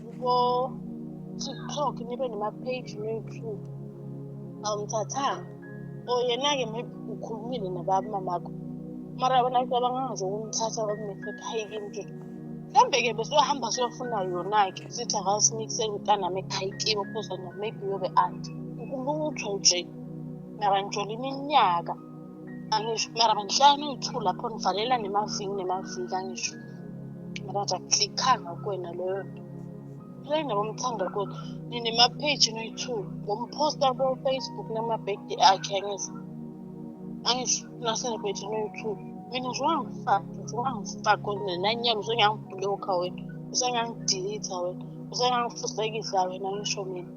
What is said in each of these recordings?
kubo TikTok nibe nama-page no-YouTube awumthathanga or yena-ke maybe ukhulumile nabamamakho mara wena cabanga nje ukumthatha kwakunefetha hayi kimke mhlawumbe-ke besohamba siyofuna yona-ke sithi akasimikisele mntanami ekhaya kibo because maybe uyobe anti ukulutho nje nakanjolo iminyaka mara ngihlala ngiyi-two lapho ngivalela nemaviki nemaviki angisho mara akulikhanga kuwena leyo nto rena bomthanda kuthi ninema-page noyi-two ngomposta kofacebook namabhekde akhe angisho angisho nasenibhekde noyi-two mina nje wangifaka nje wangifaka nenanyalo usengangibhulokha wena usengangidilitha wena usengangifusekisa wena ngisho mina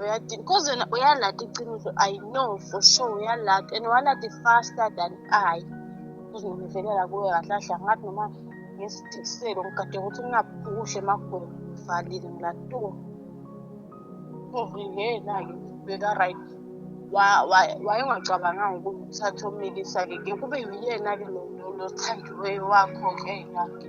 uyadini cause wena uyalata iqiniso i know for sure uyalata and walata faster than i uzongivelela kuwe kahle kahle angathi noma ngesidikiselo ngigade ukuthi ngingaphukuhle emagwela ngivalile ngilatuko uvikela-ke ubheka right wayengacabanganga ukuthi uthathe omikisa-ke ke kube yuyena-ke lothandiweyo wakho-ke yake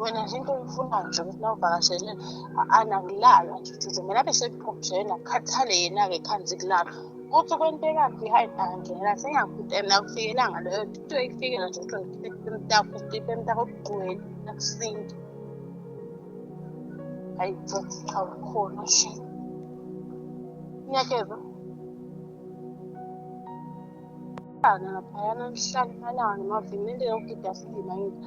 wena nje into oyifunayo nje ukuthi nawuvakashele anakulalwa nje ukuthi mina abe sekuphumshela akukhathale yena-ke phansi kulaba kuthi kwento ekabi hayi angena sengiyakhuta mina kufikelanga leyo into eyifikela nje ukuthi ngikhiphe emtako ukhiphe emtako okugcwele akusinto hayi futhi cha ukhona nje ngiyakezwa laphayana mhlala imalanga noma vele into yokugida sidima yini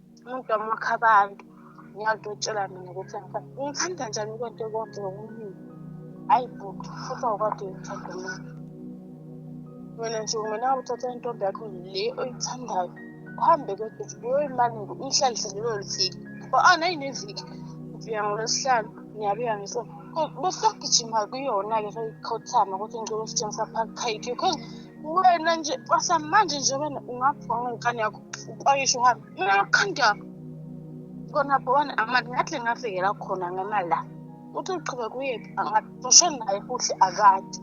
umuntu wamakho abantu ngiyakho utshela mina ukuthi ngithanda njani kwento konke ngokuningi hayi bhuti futhi awukade uyithanda mina wena nje kumele uthatha intombi yakho le oyithandayo uhambe kodwa uyoyimaningi uyihlalise lelo lifiki ngoba ana yineviki ubuya ngolwesihlanu ngiyabuya ngisona besagijima kuyona-ke seyikhothama ukuthi ngicela usitshengisa phakukhayithi because wena nje kwasamanje nje wena ungabhonga ngekani yakho uqwayisha uhambe mina lokhanda kona bona amali ngathi ngafikela khona ngemali la uthi uqhube kuyephi angaxoshe naye futhi akade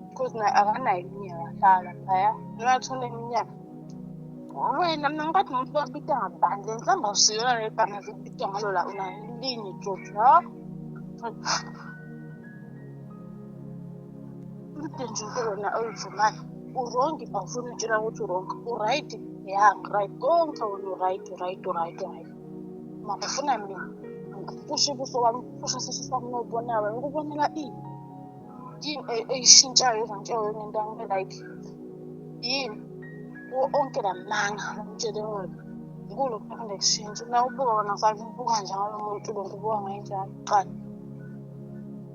because naye akanayo iminyaka hlala phaya nongathole iminyaka wena mina ngikade umuntu babita ngabani le nhlamba usiyona le bhanga zibita ngalo la unalinye jojo Udinji wona oyivumayo urongi bafuna utshela ukuthi urongi uright ya ngiryt konke wona uright uright uright uright mara ufuna mina ngiphushe ubuso wami ngiphushe isisu sami nokubonawe ngikubonela ini yini e- eyishintshayo ezantshayo yona into angibe like yini kuwo onke la manga ngitshele wena nkulu kuphinde kushintshe na ubuka wona fake ngibuka njalo umuntu lo ngibuka ngayenjalo qala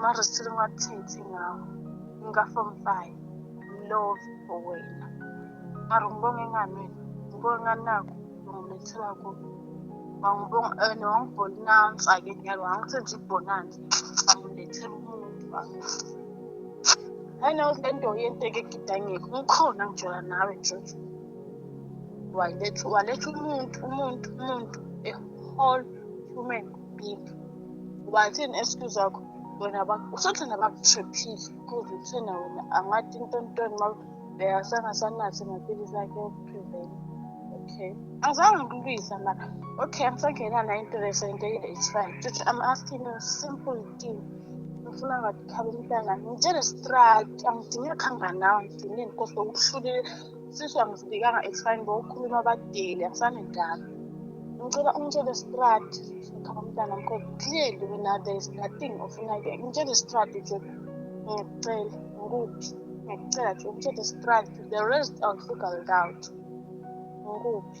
mara sithole ungathithi ngawo ngikafom five mlove for wena mara ngibonge ngani wena ngibonge ngani nakho ngimethela kubo wangibonga eh, and wangibhonansa ke nyalo wangisenza ibhonansa wangilethela umuntu hayi nawe le nto yenteke egidangeke ngikhona ngijola nawe nje waletha waletha umuntu umuntu umuntu a whole human bini wathini excuse yakho wena usathanda bakutriphile cause uthena wena angathi intontoni ma beyasangasanathi maphilisi akhe okuprevent okay azange ngilwisa mara okay angisangena na interest into it's fine just i'm asking you simple thing ngifuna ngathi khaba umntana ngitshele straight angidingi khanganawo ngidingi nkosi okuhlulile Sisi angisibikanga exfine bokukhuluma abadeli akusanendaba. Ngicela ungitshele strat ngikhala umntana mkho clearly wena there is nothing ofuna ke ngitshele strat nje ngicela ngikuphi ngicela nje ungitshele strat the rest I'll figure it out ngikuphi